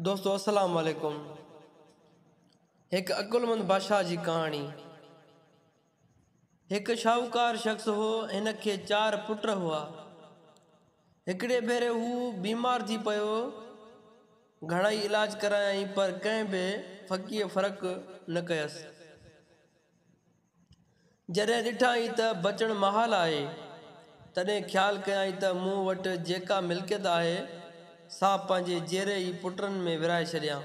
دوستو السلام عليڪم هڪ عقلمند بادشاهه جي ڪهاڻي هڪ شاهوڪار شخص هو هن کي چار پٽ هئا هڪڙي ڀيري هو بيمار ٿي پيو گهڻائي علاج ڪرايائين پر ڪنهن به فقير فرق نه ڪيس جڏهن ڏٺائين ته بچڻ محال آهي، تڏهن خيال ڪيائين ته مون وٽ جيڪا ملڪيت آهي، سا پنهنجي جيئري ئي پٽن ۾ ورهائي ڇڏيان.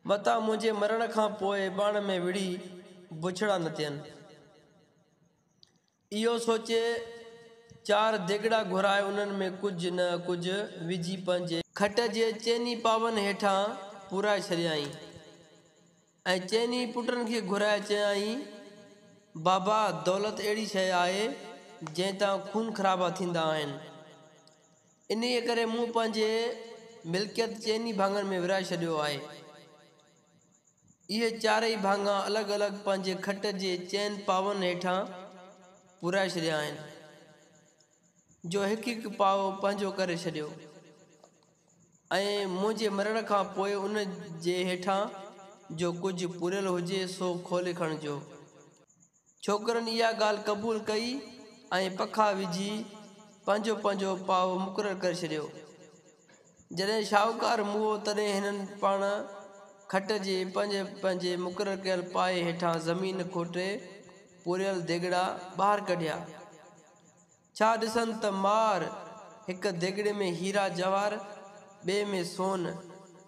متان منهنجي مرڻ کان پوء ٻاڻ ۾ وڙهي بڇڙا نه ٿين. اهو سوچي چار ديڳڙا گهرائي انهن ۾ ڪجهه نه ڪجهه وجهي پنهنجي. کٽ جي چئني پاون هيٺان پورائي ڇڏيائين ۽ چئني پٽن کي گهرائي چيائين، بابا دولت اهڙي شيء آهي جنهن تان خون خرابا ٿيندا آهن. انهيء ڪري مون پنهنجي ملڪيت چئني ڀاڱن ۾ ورهائي ڇڏيو آهي. اهي چارئي ڀاڱا الڳ الڳ پنهنجي کٽ جي چئن پاون هيٺان پورائي ڇڏيا آهن، جو هڪ هڪ پاو پنهنجو ڪري ڇڏيو ۽ منهنجي مرڻ کان پوء ان جي هيٺان جو ڪجهه پوريل هجي سو کولي کڻجو. ڇوڪرن اها ڳالهه قبول ڪئي ۽ پکا وجهي پنهنجو پنهنجو پاء مقرر ڪري ڇڏيو. جڏهن شاهوڪار موهو تڏهن هنن پاڻ کٽ جي پنهنجي پنهنجي مقرر ڪيل پايي هيٺان زمين کوٽي پوريل ديڳڙا ٻاهر ڪڍيا. ڇا ڏسن ته مار! هڪ ديڳڙي ۾ هيرا جواهر، ٻئي ۾ سون،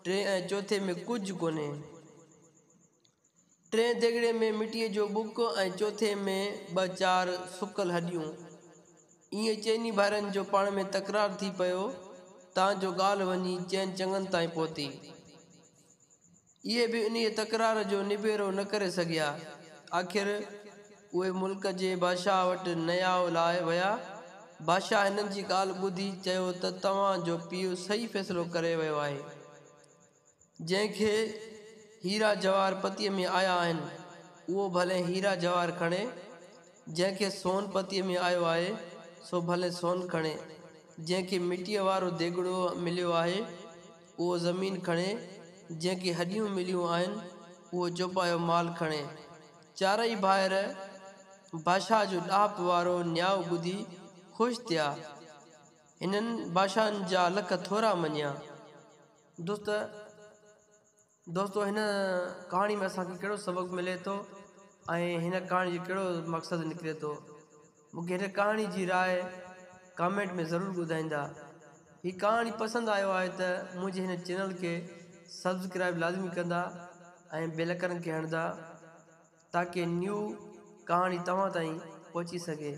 ٽئين ۽ چوٿين ۾ ڪجهه ڪونهي. ٽئين ديڳڙي ۾ مٽيء جو ٻڪ ۽ چوٿين ۾ ٻه چار سڪل هڏيون. ائين چئني ڀائرن جو پاڻ ۾ تڪرار ٿي پيو تان جو ڳالهه وڃي چئن چڱن تائين پهتي. اهي به انهيء تڪرار جو نبيرو نه ڪري سگهيا. آخر اهي ملڪ جي بادشاهه وٽ نيائو لاء ويا. بادشاهه هنن جي ڳالهه ٻڌي چيو ته توهان جو پيء صحيح فيصلو ڪري ويو آهي. جنهن کي هيرا جواهر پتيء ۾ آيا آهن، اهو ڀلين هيرا جواهر کڻي، جنهن کي سون پتيء ۾ آيو آهي، سو ڀلين سون کڻي، جنهن کي مٽيء وارو ديڳڙو مليو آهي، اهو زمين کڻي، جنهن کي هڏيون مليون آهن، اهو چوپايو مال کڻي. چارئي ڀائر بادشاهه جو ڏاهپ وارو نياء ٻڌي خوش ٿيا. هنن بادشاهن جا لک ٿورا مڃيا. دوست دوستو هن ڪهاڻي ۾ اسان کي ڪهڙو سبق ملي ٿو ۽ هن ڪهاڻي جو ڪهڙو مقصد نڪري ٿو مون کي هن ڪهاڻي جي راء ڪامينٽ ۾ ضرور ٻڌائيندا هي ڪهاڻي پسند آيو آهي ته منهنجي هن چينل کي سبسڪرائب لازمي ڪندا ۽ بيل اڪرن کي هڻدا تاڪي نيو ڪهاڻي توهان تائين پهچي سگهي